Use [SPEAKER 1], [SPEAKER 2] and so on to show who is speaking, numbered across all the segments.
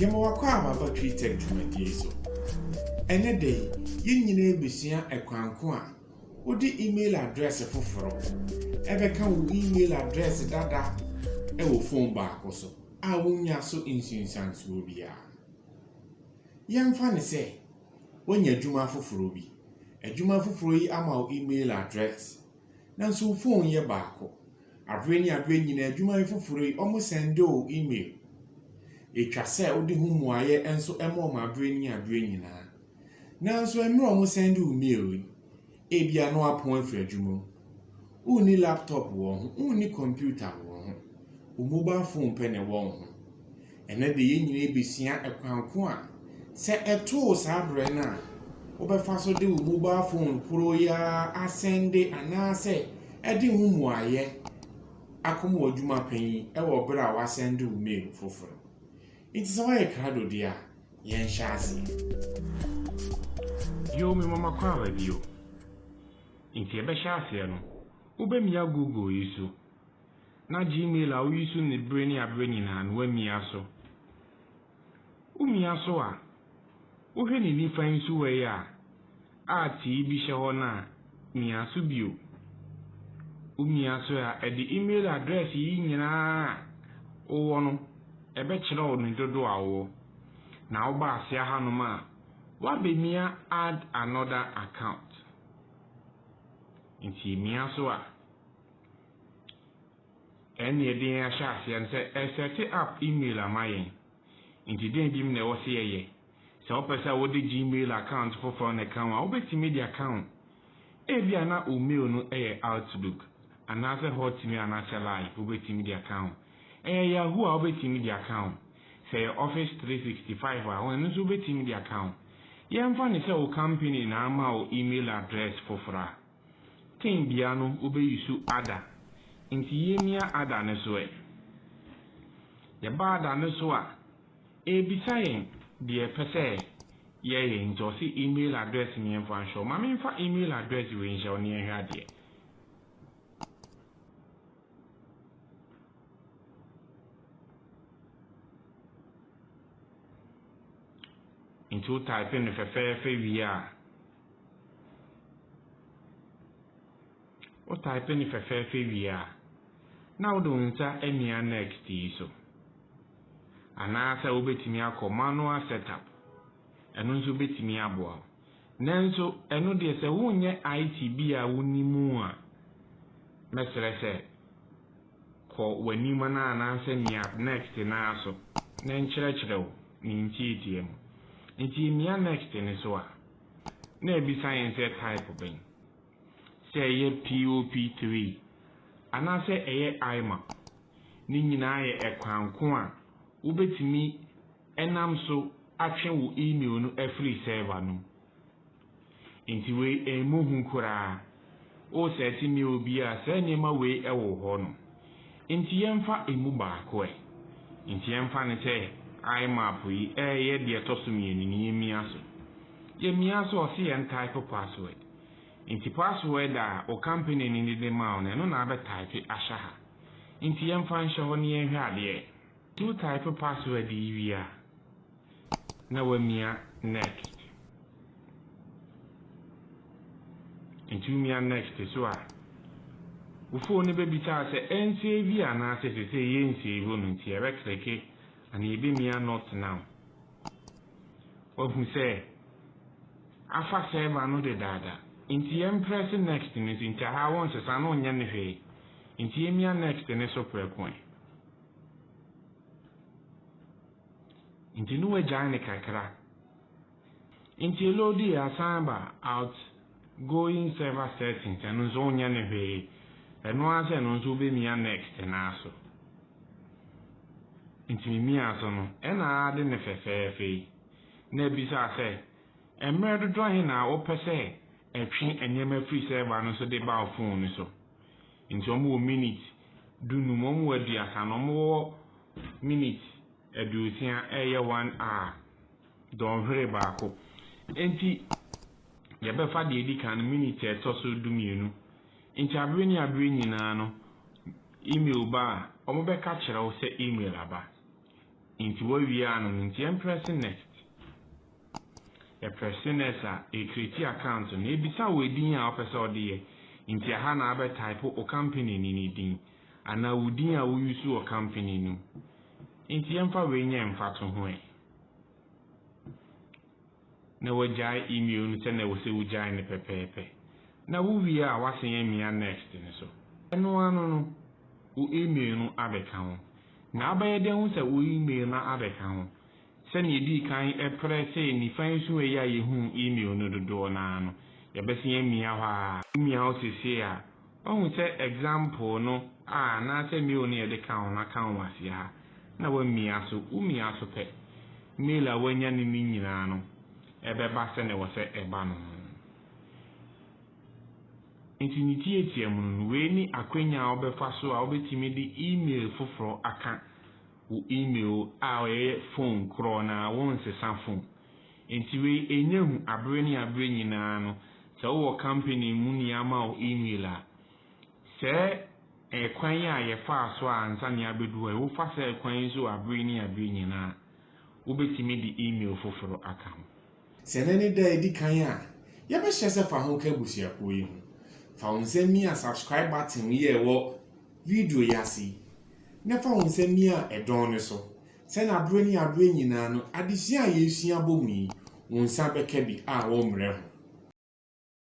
[SPEAKER 1] Yɛma w'akwaaba aba Tweetech dwumadie so. Ɛnnɛ da yi, yɛn nyinaa bɛsua ɛkwan ko a wode email address foforo bɛka wo email address dada wɔ phone baako so a wonnya so nsunsuansoɔ biara. Yɛmfa no sɛ woanya adwuma foforo bi. Adwuma foforo yi ama wo email address, nanso wo phone yɛ baako. Aber nye aber nyina edwumayɛ fofor yi ɔmo sɛndo wo email. Etwa sɛ wode ho mmuaeɛ nso ma wɔn aberɛ ne aberɛ nyinaa. Nanso mmerɛ wɔn sɛnde wo mail yi, ebia na wapɔn afiri adwuma mu. Wonni laptop wɔ wo ho, wonni computer wɔ wo ho. Wo mobile phone pɛ na ɛwɔ wo ho. Ɛnnɛ de, yɛn nyinaa besua kwan ko a sɛ ɛtoo saa bere no a, wobɛfa so de wo mobile fon horow yi ara asɛnde anaasɛ de ho mmuaeɛ akɔma w'adwuma panyin wɔ bere a woasɛnde wo mail foforo. Enti sɛ woayɛ krado deɛ a, yɛnhyɛ aseɛ.
[SPEAKER 2] Bio, me mama kɔ aba bio. Enti yɛbɛhyɛ aseɛ no, wobɛmia Google yi so. na Gmail a wuyi so ne bere ne abere nyinaa no woamia so. Wumia so a, wohwɛ ne nifa nsuwa yi a art yi bi hyɛ hɔ no a, mia so bio. Wumia so a, ɛde email address yi nyinaa a wowɔ no ɛbɛkyerɛ wo ne dodow a wowɔ. Na woba ase ahanom a, woabemia add another account. Enti mia so a. Ɛnna yɛde yɛn ahyɛ aseɛ no sɛ ɛresɛte app email ama yɛn. Nti dɛn bi mu na ɛwɔ sɛ yɛyɛ? Sɛ wopɛ sɛ wode Gmail account foforɔ na ɛka ho a, wobɛtumi de aka ho. Ebia na wo mail no yɛ Outlook, anaasɛ Hotmail anaasɛ Live, wobɛtumi de aka ho. Ɛyɛ Yahoo a, wobɛtumi de aka ho. Sɛ ɛyɛ Office 365 a, ɛno nso wobɛtumi de aka ho. Yɛmfa no sɛ wo kampani na ama wo email address foforɔ a. Tenbea no wobeyi so ada. Enti yemia ada no so ɛ? Yɛba ada no so a, ebisa yɛn deɛ yɛpɛ sɛ yɛyɛ. Nti ɔse email address no yɛmfa nhyɛ wo. Ma memfa email address wei nhyɛ wo na yɛnhwɛ adeɛ. Nti wo type no fɛfɛɛfɛ wie a, Wo type no fɛfɛɛfɛ wie a, na wode wo nsa amia next yi so. Anaasɛ wobɛtumi akɔ manual setup, ɛno nso bɛtumi aboa wo. Nanso ɛno deɛ sɛ wonyɛ IT bi a wonim a, mɛsrɛ sɛ kɔ w'anim no anaasɛ mia next no ara so na ɛnkyerɛkyerɛ wo ne ntiatia mu. Nti mia next no so a. na abisa yɛn sɛ type bɛn, sɛ ɛyɛ POP3 anaasɛ ɛyɛ IMA. Ne nyinaa yɛ ɛkwan ko a wobɛtumi nam so atwe wo email no afiri server no mu. Enti wei ɛmmɔ hu koraa. O sɛ ɛte me obi a saa nneɛma wei wɔ wo hɔ no, enti yɛmfa emu baako ɛ? Enti yɛmfa no sɛ IMAP yi reyɛ deɛ ɛtɔ so mmienu no, yɛmmia so. Yɛmmia so a, ɔse yɛn type password. Enti password a wo company no de de ma wo no, ɛno na abɛ type ahyɛ ha. Enti yɛmfa nhyɛ hɔ na yɛnhwɛ adeɛ. Wo type password yi wie a na wamia next. Nti womia next so a, wo phone no bɛbisa wo sɛ ɛnsave anaasɛ sesei yɛnsave no nti yɛbɛ kleke anaa yɛbɛmia not now. Wahu sɛ afa server no dedaada nti yɛmprɛse next no nso nti aha wonsesa no wonyɛ no hwee nti yɛmia next no so prɛko ɛ. Nti no wagyae no kakra. Nti load yi asan aba out going server settings ɛno nso wonyɛ no hwee. Ɛno ara sɛ ɛno nso wobɛmia next no ara so. Nti memia so no ɛna ade no fɛfɛɛfɛ yi na ɛbisa sɛ mmerɛ dodoɔ he na wopɛ sɛ ɛtwe nneɛma firi server no so de ba wo phone no so. Nti ɔmo wɔ minute du num, ɔmo wɔ aduasa na ɔmo wɔ minute aduosia ɛɛyɛ one hour, dɔnhwere baako. Nti yɛbɛfa deɛ edi kan no, minute a ɛtɔ so du mmienu. Nti abere ne abere nyinaa no email ba a, ɔmo bɛka kyerɛ wo sɛ email aba. Nti wawie ano no, nti ɛmprɛse next. Epɛ se na ɛsa e creati account na ebisa wo edin a wopɛ sɛ ɔde yɛ. Nti aha na abɛ type o company ni ne din anaa wo din a wo use wɔ company no mu. Nti yɛmfa wei nyɛ mfatoho ɛ. Na wagyae email no sɛnea ɛwɔ sɛ wogyae no pɛpɛɛpɛ. Na wo wie a wasen amia next no so. Ɛno ano no, wo email no abɛka ho. Na abɛyɛ dɛ ahu sɛ wo email no abɛka ho. Sɛnea edii kan pere sɛ nifa nsu ayi a yehuu e-mail no dodoɔ no ara no, yɛbɛsan amia hɔ ara. Womia hɔ seesei a, woahu sɛ example no a anaasɛ mail no a yɛde kaa ho no aka wo aseɛ ha, na woamia so. Womia so pɛ, mail a woanya no no nyinaa no bɛba sɛnea ɛwɔ sɛ ɛba no. Enti ne tiatia mu no, wei ne akwanya a wobɛfa so a wobɛtumi de e-mail foforɔ aka. wo email a ɔyɛ fon korɔ na wo nsesa fon nti wei ɛnyɛ hu abere ne abere nyinaa no sɛ wo wɔ company mu ne ama wo email a sɛɛ ɛkwan yi a yɛ faa so a ansa ne abɛdu hɔ yi wo fa sɛɛ kwan yi so wɔ abere ne abere nyinaa a wo bɛtumi de email foforo aka ho. Sɛ ɛnnɛ ne
[SPEAKER 1] da a edi kan a yɛbɛhyɛ sɛ fa ho ka abusuakuw yi ho. Fa wo nsa mia subscribe button yi a ɛwɔ video yi ase yi, na fa wo nsa mia ɛdɔn no so, sɛnea bere ne bere nyinaa no adesua a yɛresua abom yi, wo nsa bɛka bi a woremmrɛ ho.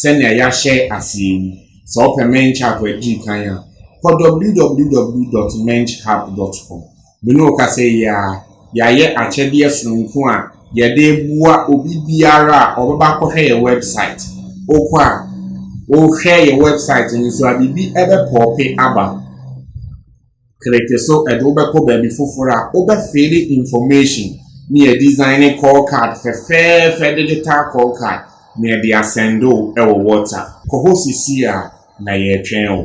[SPEAKER 1] Sɛnea yɛahyɛ ase yi, sɛ wopɛ Mench app a edi kan a, kɔ www dot menchhub dot com. Me ne wo kasa yi ara, yɛayɛ akyɛdeɛ sononko a yɛde reboa obi biara a ɔbɛba akɔhwɛ yɛn wɛbsaet. Wokɔ a, wohwɛ yɛn wɛbsaet no so a, biribi bɛpɔɔpe aba. Kreke so ɛde wo bɛkɔ baabi foforɔ a wobɛfeele information ne yɛdesigne call card fɛfɛɛfɛ digital call card na yɛde asɛnde wo wɔ WhatsApp. Kɔ hɔ seesei ara na yɛretwɛn wo.